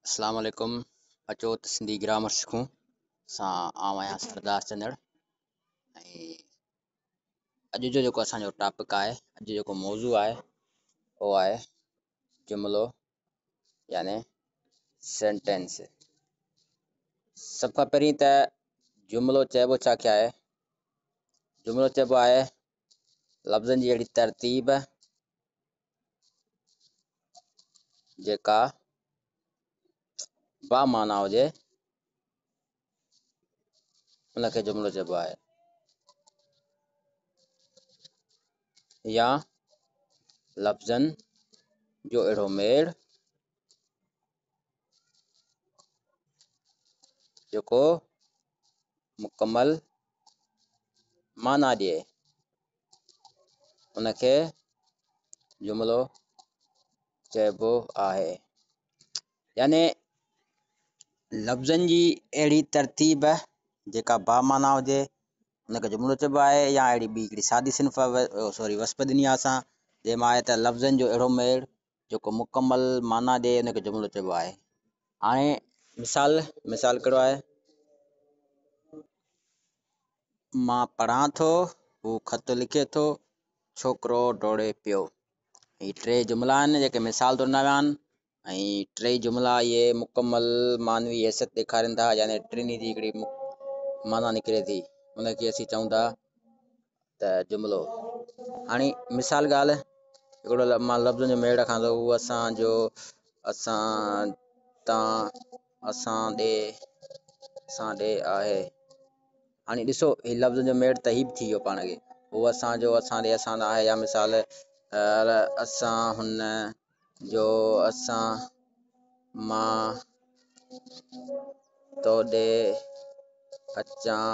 اسلام عليڪم اچو ته سنڌي گرامر سکون سان آئون آهيان سردار چندڙ ۽ اڄ جو جيڪو اسانجو ٽاپڪ آهي اڄ جو جيڪو موضوع آهي اهو آهي جملو يعني سينٽينس سڀ کان پهرين ته جملو چئبو ڇا کي آهي جملو چئبو آهي لفظن جي اهڙي ترتيب جيڪا با معنيٰ هجي ان کي جملو چئبو آهي يا لفظن جو اهڙو ميڙ جيڪو مڪمل معنيٰ ڏئي ان کي جملو چئبو آهي يعني لفظن جي اهڙي ترتيب جيڪا با معنيٰ هجي ان کي جملو چئبو آهي يا اهڙي ٻي هڪڙي سادي صنف سوري وسپ ڏني آهي اسان جنهن مان آهي ته لفظن جو اهڙو ميڙ جيڪو مڪمل معنيٰ ڏئي ان کي جملو چئبو آهي هاڻي مثال مثال ڪهڙو آهي مان پڙهان ٿو هو خط لکي ٿو ڇوڪرو ڊوڙي پيو هي ٽي جملا آهن جيڪي مثال طور ڏنا ويا آهن ۽ ٽي جملا اهي مڪمل معنوي حيثيت ڏيکارين ٿا يعني ٽنهي جي هڪڙي معنيٰ نڪري ٿي ان کي اسين چئون ٿا ته جملو هاڻي مثال ڳالهه هڪڙو مان لفظن جو ميڙ رکان ٿو هو اسان جو اسان تان اسان ڏي اسان ڏي آهي هاڻي ڏسو هي لفظن جو ميڙ ته هي به ٿي ويو پاڻ کي هو اسان جو اسان ڏي اسان آهي يا مثال اسان هن جو اسان مان تو ڏي اچان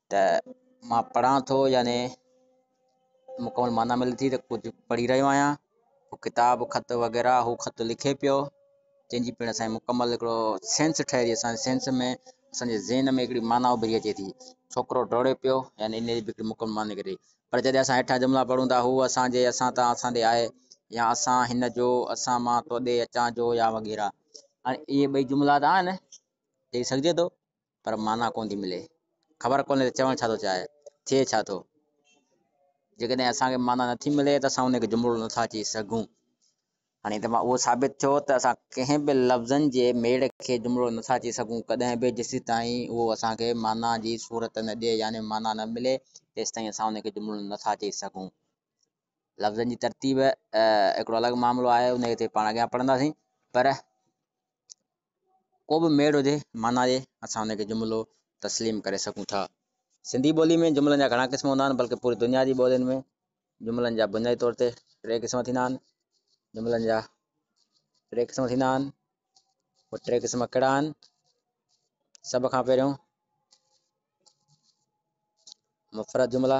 ته مان پڙهان ٿو يعني مڪمل معنيٰ ملي ٿي ته ڪجهه پڙهي رهيو آهيان هو ڪتاب خط وغيره هو خط لکي پيو جنهنجي پڻ اسان مڪمل هڪڙو سينس ٺهي ٿي اسان سينس ۾ اسانجي ذهن ۾ هڪڙي معنيٰ اڀري اچي ٿي ڇوڪرو ڊوڙي پيو يعني ان جي هڪڙي مڪمل معنيٰ نڪري پر جڏهن اسان هيٺان جملا پڙهون ٿا هو اسانجي اسان تان اسان ڏي آهي يا اسان هن جو اسان مان تو ڏي اچان جو يا وغيره هاڻي اهي ٻئي جملا ته آهن چئي سگهجي ٿو پر معنيٰ ڪونه ٿي ملي خبر ڪونهي ته چوڻ ڇا ٿو چاهي ٿئي ڇا ٿو جيڪڏهن اسانکي معنيٰ نٿي ملي ته اسان ان کي جملو نٿا چئي سگهون هاڻي ته اهو ثابت ٿيو ته اسان ڪنهن به لفظن جي ميڙ کي جملو نٿا چئي سگهون ڪڏهن به جيسي تائين اهو اسان کي معنيٰ جي صورت نه ڏئي يعني معنيٰ نه ملي تيستائين اسان ان کي جملو نٿا چئي سگهون لفظن جي ترتيب هڪڙو الڳ معاملو آهي ان کي پاڻ اڳيان پڙهنداسين پر ڪو به ميڙ هجي معنيٰ ڏي، اسان ان کي جملو تسليم ڪري سگهون ٿا. سنڌي ٻولي ۾ جملن جا گهڻا قسم هوندا آهن، بلڪ پوري دنيا جي ٻولين ۾ جملن جا بنيادي طور تي ٽي قسم ٿيندا آهن. جملن جا ٽي قسم ٿيندا آهن. اهي ٽي قسم ڪهڙا آهن؟ سڀ کان پهريون مفرد جملا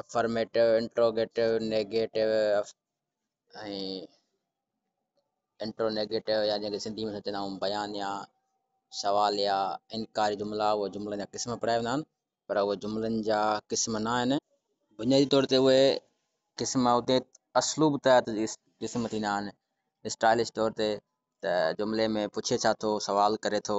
افرميٽو انٽروگيٽو نيگيٽو ۽ انٽرونيگيٽو يا جنهن کي سنڌي ۾ چوندا آهيون بيانيا سواليا انڪاري جملا اهي جملن جا قسم پڙهايا ويندا آهن پر اهي جملن جا قسم نه آهن بنيادي طور تي اهي قسم اتي اسلوب تحت قسم ٿيندا آهن اسٽائلش طور تي ته جملي ۾ پڇي ڇا ٿو سوال ڪري ٿو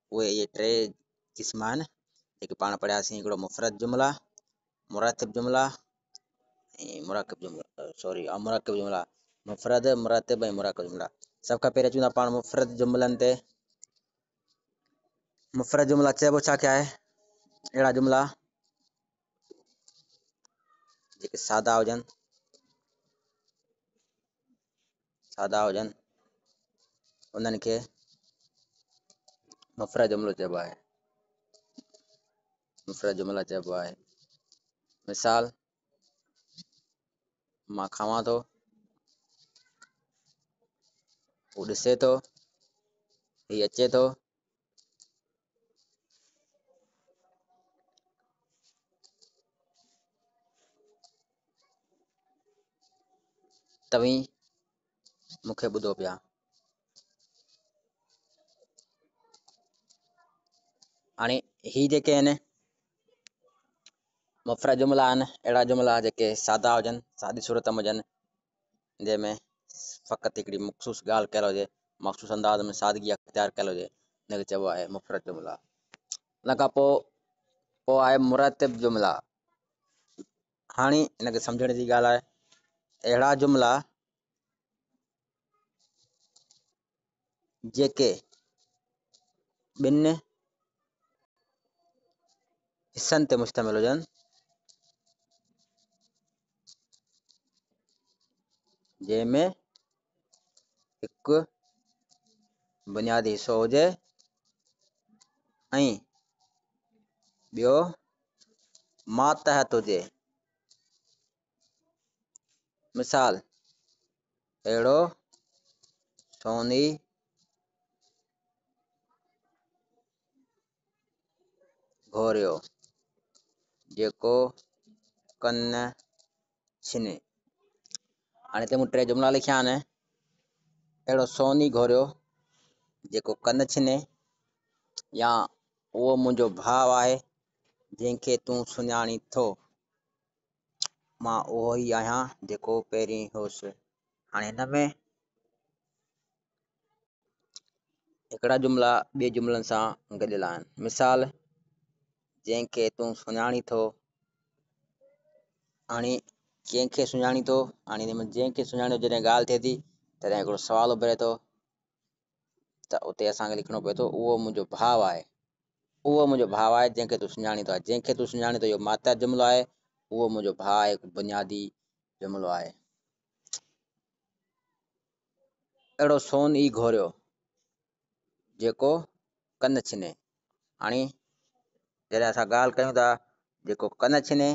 اهي اهي ٽي قسم آهن جيڪي پاڻ پڙهياسين هڪڙو مفرد جملا مرتب جملا ۽ مرڪب جملا سوري مرڪب جملا مفرد مرتب ۽ مرڪب جملا سڀ کان پهريان چون ٿا پاڻ مفرد جملن تي مفرد جملا چئبو ڇا کي آهي اهڙا جملا جيڪي سادا هجن سادا هجن انهن کي مفرد جملو چئبو آهي مفرد جملا چئبو آهي مثال مان کاوان ٿو هو ڏسي ٿو هي اچي ٿو توهين مون کي ٻڌو پيا هاڻي هي جيڪي آهن مفرد جملا آهن اهڙا جملا جيڪي سادا هجن سادي صورت ۾ هجن جنهن ۾ فقط هڪڙي مخصوص ڳالهه ڪيل هجي مخصوص انداز ۾ سادگي اختيار ڪيل هجي ان کي چئبو آهي مفرد جملا ان کان پوء پوء آهي مرتب جملا هاڻي ان کي سمجھڻ جي ڳالهه آهي اهڙا جملا جيڪي ٻن حصن تي مشتمل هجن جنهن ۾ هڪ بنيادي حصو هجي ۽ ٻيو ماتحت هجي مثال، اهڙو سوني گهوريو، جيڪو ڪن ڇني. هاڻي هتي مون ٽي جملا لکيا آهن اهڙو سوني گهوريو جيڪو ڪن ڇني يا اهو منهنجو ڀاء آهي جنهن کي تون سڃاڻين ٿو مان اهو ئي آهيان جيڪو پهرين هوس. هاڻي هن ۾ هڪڙا جملا ٻئي جملن سان گڏيل آهن مثال جنهن کي تون سڃاڻي ٿو هاڻي ڪنهن کي سڃاڻي ٿو هاڻي جنهن کي سڃاڻي جڏهن ڳالهه ٿئي ٿي تڏهن هڪڙو سوال اڀري ٿو ته اتي اسان کي لکڻو پوي ٿو اهو منهنجو ڀاء آهي اهو منهنجو ڀاء آهي جنهن کي تون سڃاڻين ٿو جنهن کي تون سڃاڻين ٿو اهو ماتحت جملو آهي اهو منهنجو ڀاء آهي هڪ بنيادي جملو آهي اهڙو سون ئي گهوريو جيڪو ڪن ڇني هاڻي جڏهن اسان ڳالهه ڪيون ٿا جيڪو ڪن ڇني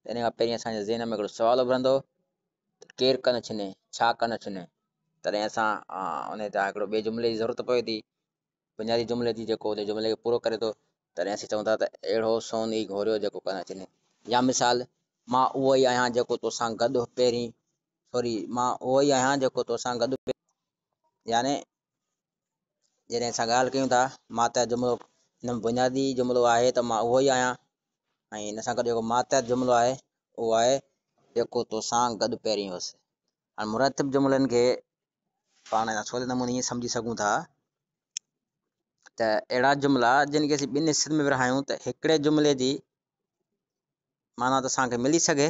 ان کان پهرين اسانجي ذهن ۾ هڪڙو سوال اڀرندو ته ڪير ڪن ڇني ڇا ڪن ڇني تڏهن اسان ان تان هڪڙو ٻئي جملي جي ضرورت پوي ٿي بنيادي جملي جي جيڪو ان جملي کي پورو ڪري ٿو تڏهن اسين چون ٿا ته اهڙو سون ئي گهوريو جيڪو ڪن ڇني يا مثال مان اهو ئي آهيان جيڪو توسان گڏ پهرين سوري مان اهو ئي آهيان جيڪو توسان گڏ يعني جڏهن اسان ڳالهه ڪيون ٿا ماتحت جملو هن ۾ بنيادي جملو آهي ته مان اهو ئي آهيان ۽ هن سان گڏ جيڪو ماتحت جملو آهي اهو آهي جيڪو توسان گڏ پهرين هوس هاڻي مرتب جملن کي پاڻ سولي نموني ائين سمجهي سگهون ٿا ته اهڙا جملا جن کي اسين ٻن حصن ۾ ورهايون ته هڪڙي جملي جي معنيٰ ته اسان کي ملي سگهي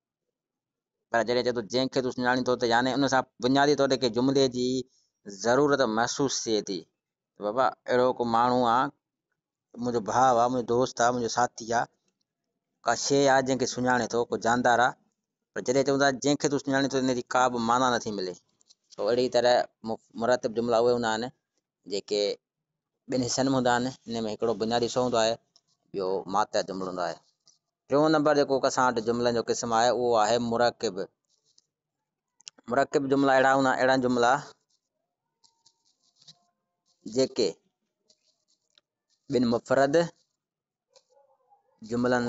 پر جڏهن چئي ٿو جنهن کي تون سڃاڻين ٿو ته يعني ان سان بنيادي طور تي ڪنهن جملي جي ضرورت محسوس ٿئي ٿي بابا اهڙو ڪو ماڻهو آهي منهنجو ڀاء آهي منهنجو دوست آهي منهنجو ساٿي آهي ڪا شيء آهي جنهن کي سڃاڻي ٿو ڪو جاندار آهي پر جڏهن چون ٿا جنهن کي تون سڃاڻين ٿو ان جي ڪا به معنيٰ نٿي ملي سو اهڙي طرح مرتب جملا اهي هوندا آهن جيڪي ٻن حصن ۾ هوندا آهن ان ۾ هڪڙو بنيادي حصو هوندو آهي ٻيو ماتحت جملو هوندو آهي ٽيون نمبر جيڪو اسان وٽ جملن جو قسم آهي اهو آهي مرڪب مرڪب جملا اهڙا هوندا اهڙا جملا جيڪي ٻن مفرد جملن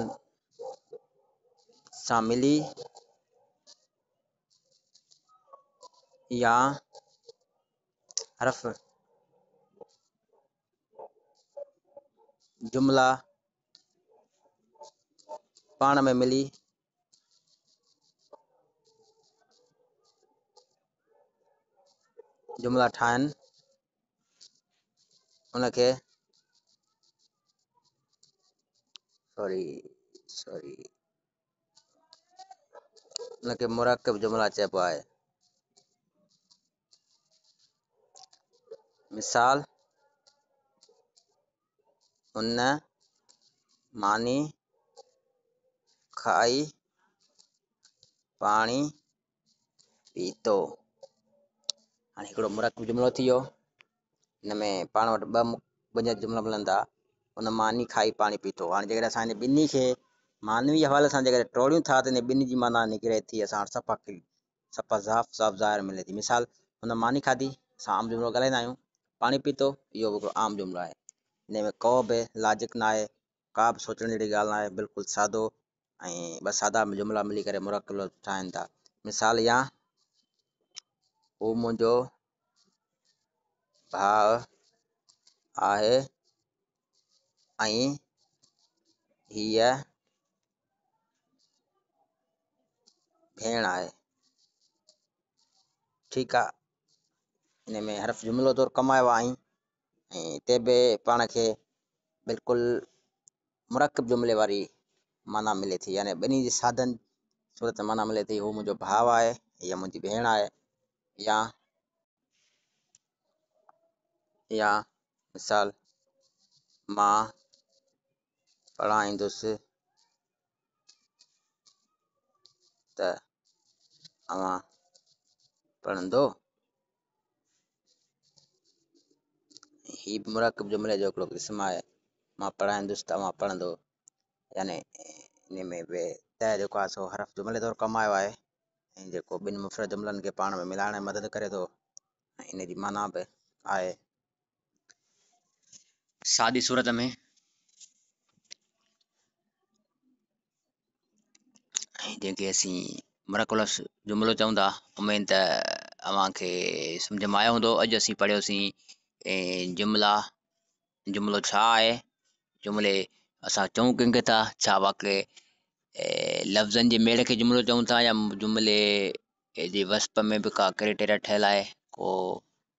سان ملي يا حرف جملا پاڻ ۾ ملي جملا ٺاهن ان کي سوري سوري ان کي مرڪب جملا چئبو آهي مثال ان ماني کائي پاڻي پيتو هاڻي هڪڙو مرڪب جملو ٿي ويو ان ۾ پاڻ وٽ ٻه بنيادي جملا ملن ٿا ان ماني کائي پاڻي پيتو هاڻي جيڪڏهن اسان هن ٻنهي کي معنوي حوالي سان جيڪڏهن ٽوڙيون ٿا ته ان ٻنهي جي معنيٰ نڪري ٿي اسان وٽ صفا سپا صاف صاف ظاهر ملي ٿي مثال هن ماني کاڌي اسان عام جملو ڳالهائيندا آهيون پاڻي پيتو اهو به هڪڙو عام جملو آهي ان ۾ ڪو به لاجڪ نه آهي ڪا به سوچڻ جهڙي ڳالهه نه آهي بلڪل سادو ۽ ٻه سادا جملا ملي ڪري مرڪب لفظ ٺاهن ٿا مثال يا هو منهنجو ڀاء آهي ۽ هيء ڀيڻ آهي ٺيڪ آ ان ۾ حرف جملو طور ڪمايو آهين ۽ هتي به پاڻ کي بلڪل مرڪب جملي واري معنيٰ ملي ٿي يعني ٻنهي جي ساڌن صورت معنيٰ ملي ٿي هو منهنجو ڀاء آهي هيء منهنجي ڀيڻ آهي يا يا مثال مان پڙهائيندس ته اوهان پڙهندو هي به مراقب جملي جو هڪڙو قسم آهي مان پڙهائيندس ته اوهان پڙهندو يعني ان ۾ به ته جيڪو آهي سو حرف جملي طور ڪم آيو آهي ۽ جيڪو ٻن مفرد جملن کي پاڻ ۾ ملائڻ ۾ مدد ڪري ٿو ان جي معنيٰ به آهي سادي صورت ۾ جنهن کي اسين مرڪولس جملو چون ٿا امين ته اوهانکي سمجھ ۾ آيو هوندو اڄ اسين پڙهيوسين جملا جملو ڇا آهي جملي اسان چون ڪنهن کي ٿا ڇا واقعي لفظن جي ميڙ کي جملو چون ٿا يا جملي جي وصف ۾ به ڪا ڪريٽيريا ٺهيل آهي ڪو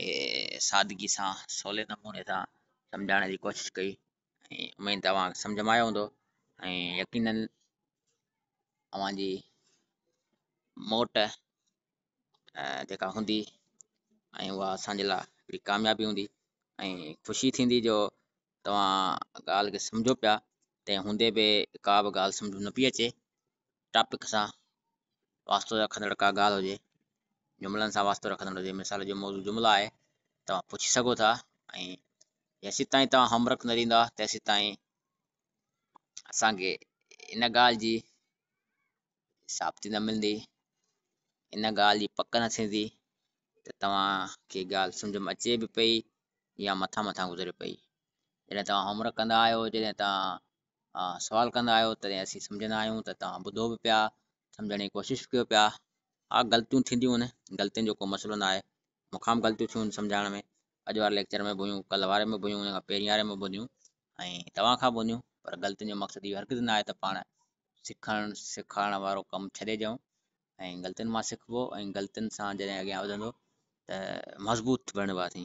هي سادگي سان سولي نموني سان سمجهائڻ جي ڪوشش ڪئي ۽ اميد ته اوهان کي سمجهه ۾ آيو هوندو ۽ يقينا اوهان جي موٽ جيڪا هوندي ۽ اها اسان جي لاء هڪڙي ڪاميابي هوندي ۽ خوشي ٿيندي جو توهان ڳالهه کي سمجهو پيا تنهن هوندي به ڪا به ڳالهه سمجهه ۾ نه پئي اچي ٽاپڪ سان واسطو رکندڙ ڪا ڳالهه هجي جملن سان واسطو رکندڙ هجي مثال جو موضوع جملا آهي توهان پڇي سگهو ٿا ۽ جيسي تائين توهان هومورڪ نه ڏيندا تيسي تائين اسانکي ان ڳالهه جي ثابتي نه ملندي ان ڳالهه جي پڪ نه ٿيندي ته توهانکي ڳالهه سمجھ ۾ اچي به پئي يا مٿان مٿان گذري پئي جڏهن توهان هومورڪ ڪندا آهيو جڏهن توهان سوال ڪندا آهيو تڏهن اسين سمجهندا آهيون ته توهان ٻڌو به پيا سمجهڻ جي ڪوشش به ڪيو پيا ها غلطيون ٿينديون آهن غلطين جو ڪو مسئلو نه آهي مقام غلطيون ٿيون سمجهائڻ ۾ اڄ واري ليڪچر ۾ به هيون ڪل واري ۾ به هيون ان کان پهرين واري ۾ به هيون ۽ توهان کان به هيون پر غلطين جو مقصد اهو هرگز نه آهي ته پاڻ سکڻ سيکارڻ وارو ڪم ڇڏي ڏيون ۽ غلطين مان سکبو ۽ غلطين سان جڏهن اڳيان وڌندو ته مضبوط بڻبا ٿي